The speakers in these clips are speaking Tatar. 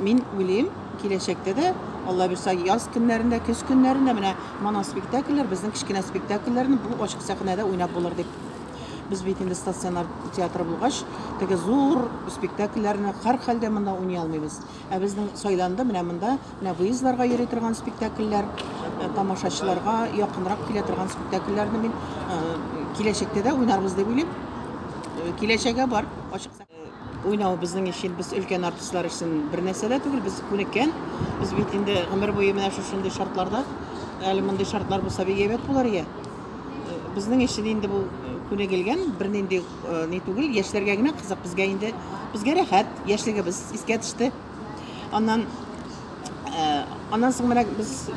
Мин уйлыйм, киләчәктә дә, Алла бирса, яз көннәрендә, көз көннәрендә менә моноспектакльләр, безнең кечкенә спектакльләрне бу ачык сәхнәдә уйнап булыр дип. Без бит инде стационар театр булгач, теге зур спектакльләрне һәрхәлдә монда уйный алмыйбыз. Ә безнең сайланды менә монда, менә выездларга йөри торган спектакльләр, тамашачыларга якынрак килә торган спектакльләрне мин киләчәктә дә уйнарбыз дип уйлыйм. Киләчәге бар ачык сәхнә. Уйнау безнең өчен, без өлкән артистлар өчен бер нәрсә дә түгел, без күнеккән. Без бит инде гомер буе менә шушындый шартларда. Әле мондый шартлар булса бик әйбәт булыр иде. Безнең өчен инде бу күнегелгән, бернинди ни түгел, яшьләргә генә кызык, безгә инде безгә рәхәт, яшьлегебез искә төште. Аннан э, аннан соң менә без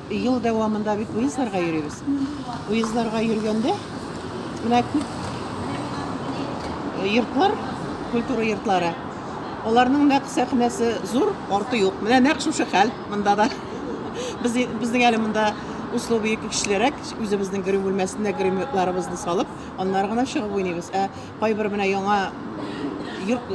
ел дәвамында бит уездларга йөрибез. Уездларга йөргәндә менә күп йортлар, культура йортлары. Аларның нәкъ сәхнәсе зур, арты юк. Менә нәкъ шушы хәл монда да. Без безнең әле монда условия көчлерәк, үзебезнең грим бүлмәсендә грим йортларыбызны салып, аннары гына чыгып уйныйбыз. Ә Кайбер менә яңа йорт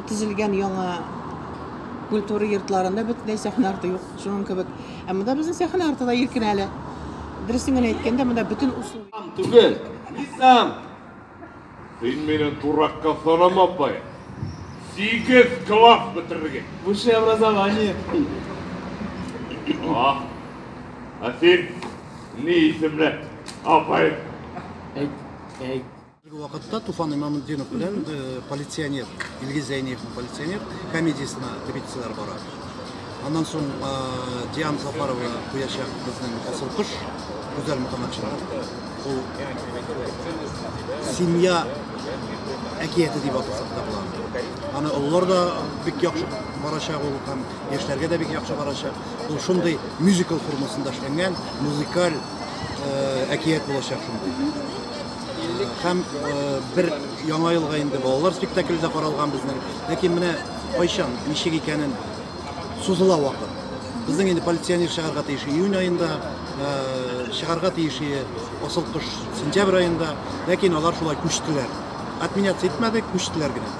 төзелгән яңа культура йортларында бөтенләй сәхнә арты юк, шуның кебек. Ә монда безнең сәхнә арты да иркен әле. Дөресен генә әйткәндә, монда бөтен усул. Түгел. Низам! Син мине дуракка санама, апай. Сигез класс бетерергә. Высшее образование. А, а син ни исемле, апай? Әйт. әйт. Әлеге вакытта Туфан Имамутдинов белән э, полиционер, Илгиз Зәйниевның полиционер комедиясенә репетицияләр бара. Аннан соң э, Диан Сафарова куячак безнең асыл кош Гүзәл Мөхәммәтшинов. Ул семья әкияте дип атасак та була. Аны олылар да бик яхшы барачак ул һәм яшьләргә дә бик яхшы барачак. Ул шундый мюзикл формасында эшләнгән, музыкаль әкият булачак шундый. Һәм бер яңа елга инде балалар спектакле дә каралган безнең. Ләкин менә кайчан, ничек икәнен сузыла вакыт. Безнең инде полиционер чыгарга тиеш июнь аенда, чыгарга тиеш асыл кош сентябрь аенда, ләкин алар шулай күчтеләр. Отменяться итмәде, күчтеләр генә.